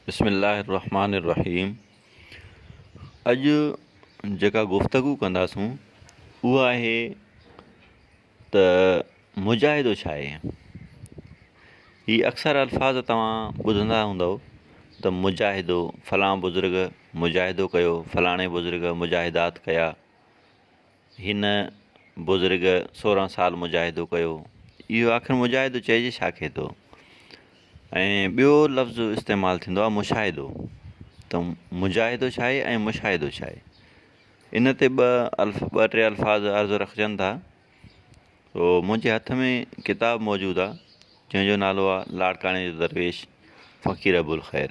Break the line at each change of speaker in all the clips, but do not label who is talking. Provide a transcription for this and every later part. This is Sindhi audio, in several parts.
بسم الله الرحمٰن الرحيم اڄ جيڪا گفتگو ڪنداسون اها آهي ته مجاهدو ڇا آهي هي اڪثر الفاظ توهان ٻڌندا هوندؤ ته مجاهدو فلان بزرگ مجاهدو ڪيو فلاڻي بزرگ مجاهدات ڪيا هن بزرگ سورهن سال مجاهدو ڪيو. اهو آخر مجاهدو چئجي ڇا کي ٿو؟ ۽ ٻيو لفظ استعمال ٿيندو آهي مشاهدو ته مجاهدو ڇا آهي ۽ مشاهدو ڇا آهي؟ ان تي ٻه الف ٻه ٽي الفاظ عرض رکجن ٿا. سو منهنجي هٿ ۾ ڪتاب موجود آهي جنهن جو نالو آهي لاڙڪاڻي جو درويش فقير ابوالخير.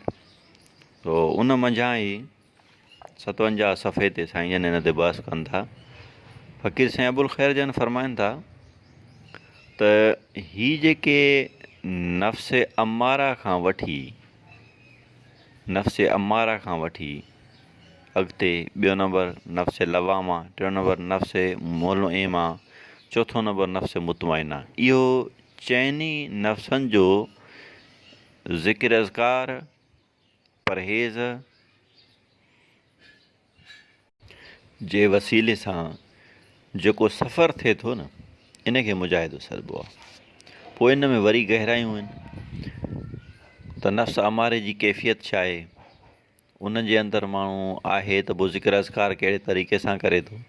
سو ان منجهان ئي ستونجاهه صفحي تي سائين جن ان تي بحث ڪن ٿا فقير سائين ابوالخير جن فرمائن ٿا ته هي جيڪي نفس امارا کان وٺي نفس امارا کان وٺي اڳتي ٻيو نمبر نفس لواما ٽيون نمبر نفس مول ايما چوٿون نمبر نفس مطمئنہ اهو چئني نفسن جو ذڪر اذڪار پرهيز جي وسيلي سان جيڪو سفر ٿئي ٿو نه ان کي مجاهدو سڏبو آهي پوء ان ۾ وري گهرايون آهن ته نفس اماري جي ڪيفيت ڇا آهي ان جي اندر ماڻهو آهي ته پوء ذڪر اذڪار ڪهڙي طريقي سان ڪري ٿو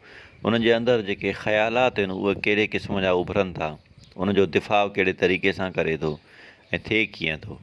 ان جي اندر جيڪي خيالات آهن اهي ڪهڙي قسم جا اڀرن ٿا ان جو دفاع ڪهڙي طريقي سان ڪري ٿو ۽ ٿئي ڪيئن ٿو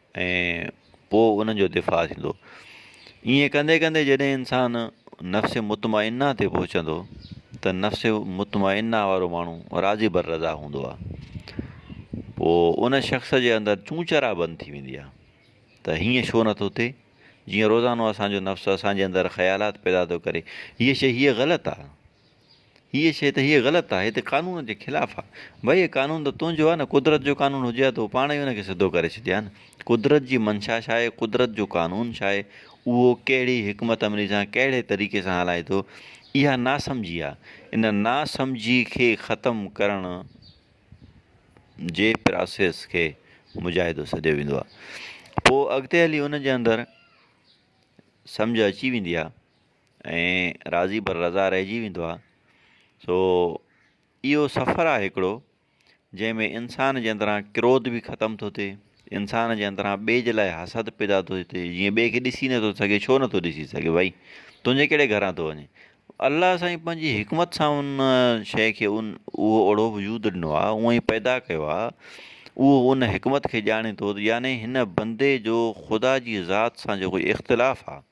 ۽ پوء انهن جو دفاع ٿيندو. ائين ڪندي ڪندي جڏهن انسان نفس مطمئنه تي پهچندو ته نفس مطمئنه وارو ماڻهو راضي بر رضا هوندو آهي. پوء ان شخص جي اندر چون چرا بند ٿي ويندي آهي ته هيئن ڇو نه ٿو ٿئي، جيئن روزانو اسان جو نفس اسان جي اندر خيالات پيدا ٿو ڪري، هيء شيء هيء غلط آهي. هيء شيء ته هيء غلط آهي، هي ته قانون جي خلاف آهي. ڀئي قانون ته تنهنجو آهي نه، قدرت جو قانون هجي ها ته هو پاڻ ئي ان کي سڌو ڪري ڇڏي ها نه. قدرت جي منشا ڇا آهي، قدرت جو قانون ڇا آهي، اهو ڪهڙي حڪمت عملي سان ڪهڙي طريقي سان هلائي ٿو، اها ناسمجهي آهي. ان ناسمجهي کي ختم ڪرڻ جي پراسيس کي مجاهدو سڏيو ويندو آهي. پوء اڳتي هلي ان جي اندر سمجهه اچي ويندي آهي. ۽ راضي بر رضا رهجي ويندو آهي سو اهو سفر آهي هڪڙو جنهن ۾ انسان جي اندران ڪروڌ به ختم ٿو ٿئي انسان جي اندران ٻئي جي لاء حسد پيدا ٿو ٿئي جيئن ٻئي کي ڏسي نٿو سگهي ڇو نٿو ڏسي سگهي ڀائي تنهنجي ڪهڙي گهران ٿو وڃي الله سائين پنهنجي حڪمت سان ان شيء کي ان اهو اهڙو وجود ڏنو آهي اونء ئي پيدا ڪيو آهي اهو ان حڪمت کي ڄاڻي ٿو يعني هن بندي جو خدا جي ذات سان جيڪو اختلاف آهي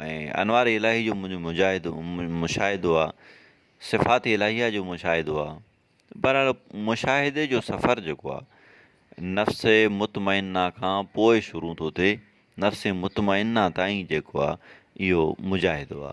۽ انوار الاھي جو منھنجو مجاھدو مشاھدو آ صفات الاھيه جو مشاھدو آ بھرحال مشاھدي جو سفر جيڪو آ نفس مطمئنه کان پوء شروع ٿو ٿئي نفس مطمئنه تائين جيڪو آ اھو مجاھدو آ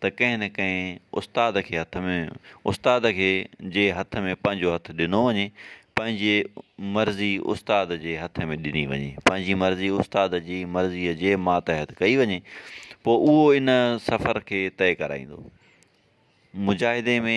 ته ڪنهن نه ڪنهن استاد کي هٿ ۾ استاد کي جي هٿ ۾ پنهنجو هٿ ڏنو وڃي پنهنجي مرضي استاد جي هٿ ۾ ڏني وڃي پنهنجي مرضي استاد جي مرضيء جي ماتحت ڪئي وڃي پوء اهو ان سفر کي طئي ڪرائيندو مجاهدي ۾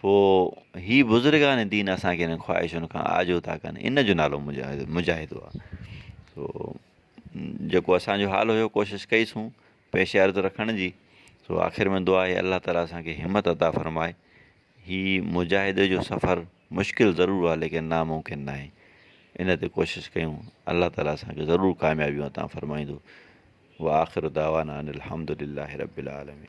پوء هي بزرگان دين اسان کي انهن خواهشن کان آجو ٿا ڪن ان جو نالو مجاهد مجاهدو آ سو جيڪو اسانجو حال هيو ڪوشش ڪئي سون پيش عرض رکڻ جي سو آخر ۾ دعا آهي الله تعالٰي اسان کي همت عطا فرمائي هي مجاهدي جو سفر مشڪل ضرور آ ليڪن ناممڪن ناهي ان تي ڪوشش ڪيون الله تعالٰي اسان کي ضرور ڪاميابيون عطا فرمائيندو وآخر دعوانا ان الحمد لله رب العالمين